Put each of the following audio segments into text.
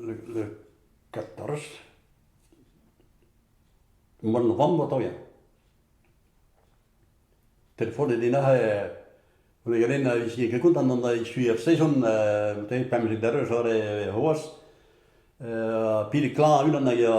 Le quatorze Mont vamm oa toia. Telefonet din aze ul gadenn a vije ket kontant an dra echu er sezon, pemp rederez ore c'hoazh. pil klañv unan a ya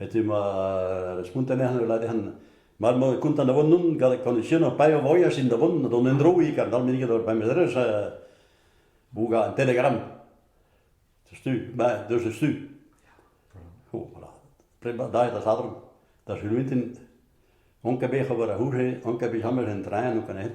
Ete ma da spontañ eo ul ladern mat emañ kontañ da vont on gant koneksiunañ paeañ voyaj int da vont d'an endro ik an dal meneget ur pemzerez bougañ un telegram setu beñ deus eus tu o voilà plebas daet da sadorn da suluentin on ket bet ober a-c'houde on ket bet james en traeñ o kanet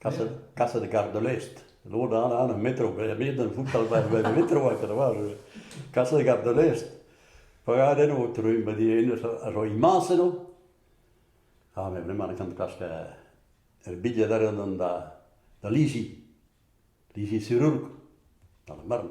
Kaset kar da lest. Lod all all e metro. Ebet e voutall e metro a kadva. Kaset kar da lest. Pagad enno trumm ba di enez a zo imans enno. Ha me vraiment e kan klask e bidiad a ran da Lisi. Lisi Sirourk. Ar marv.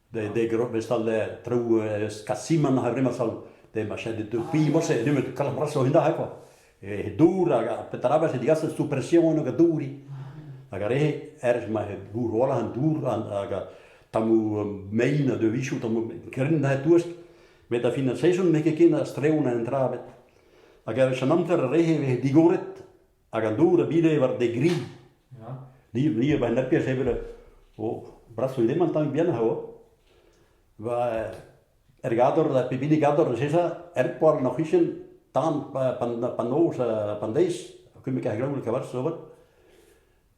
de de grobes al trou eus Kasiman ha vremas al de ma chet de primos e nemet kalbraso hina he quoi e dour hag petrabas e digas sous pression hag a douri hag a re erz ma he gour ola an dour hag tamou mein a devichou tamou grin da touest met a fin a saeson me ket ken a streon en trabet hag er an amzer a rehe vez digoret Hag an dour a bile war de gri. Ni, ni a baen nerpier sevel o brasoù lemant tamm bien a o. Va er gador, da pep hini gador eus esa, er poar an oc'hichen, tan pan noz, pan deiz, kemmek ar glaoul kavar sobat,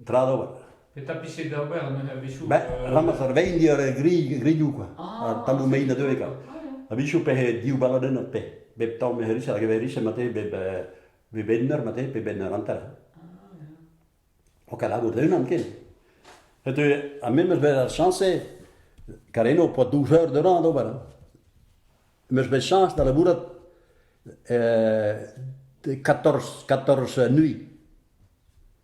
tra d'ober. Petra pise d'ober a-bezhioù? Ba, ramas ar vein diar gri, grioù kwa, ar tammoù mein a deuet ka. A-bezhioù pe div baladenn pe, bep tamm e herisel hag e herisel mate bep Pe benner mate, pe benner hanter. Ok, lagout unan ken. Et a memes bet ar chañse, Kareno po douze eur de ran d'ober. Meus bet chañs da labourat de 14, 14 nuit.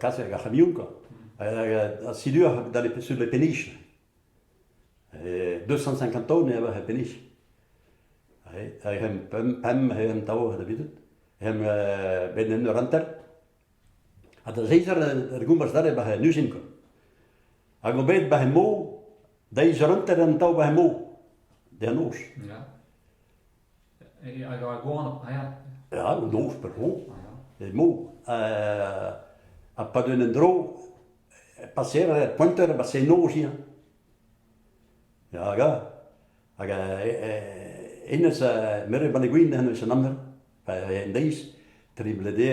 kaset ar c'hamion quoi. Ha sidu sur le peniche. 250 taon e ava he peniche. Hag hem pemp, he em tav da bidout. Hem ben en ur hanter. Ha da zeizer ar goumbas dare ba he nuzin quoi. Hag o bet ba he mo, da izer hanter en tav ba he mo. De an noz. Hag ar goanv a ya? Ya, un noz per tro, emañ. Ha pad un endro, paseer er pointer e basennoziañ. Ya, hag hag hennezh, meur a banne gwin hennezh an amzer, en deiz, tri blede,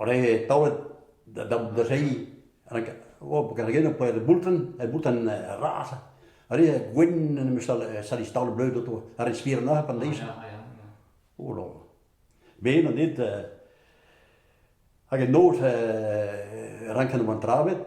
Oare taolet da zeiz kargen e poe boultren, e boultren raz. Re gwenn en em eus salis taol bleud outo, ar re spir neuze pan deiz. O lo. Me na dit, hag en noz ranken oan travet,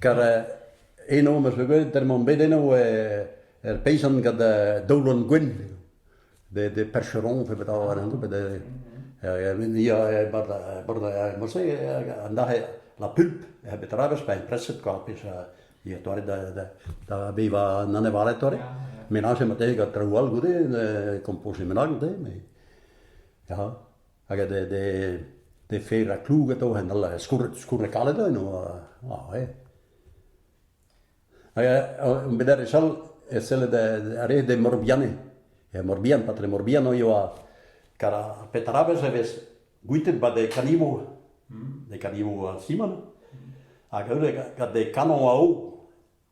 Kar eno ma 'zo gwelet der emañ bet eno ur peizant gant daoulon gwenn de percheron pe bet ar anv bet mouse an dac'h la pulp bet ra beus pa impreset kwa pezh ya torret da bevañ an anevaled torret menage mat eo gant traoù all goude kompoziñ menag goude mais ya. hag de de de fera klug atao en al skourret skourret kalet eno ah eh hag met ar wech all e selled a ree de Morbihanne e Morbihan patre Morbihan eo a kar a petra wech e vez gwitet ba de kanimo de kanimo Simon hag eure gant de kanon a-o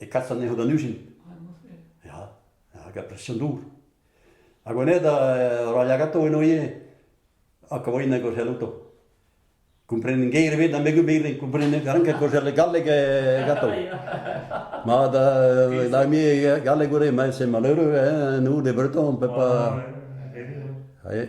e kas anezho d'an ujin. Ya, hag a presion dour. Ha gwenet a roa yagato eno ivez, ha kavorinen gorzhel outo. Komprenen geir ebet na megu birin, komprenen ranket gorzhel galleg e gato. Ma da, da mi galleg gure, ma se malheureux, hein, nous des Bretons, on peut pas... Allez.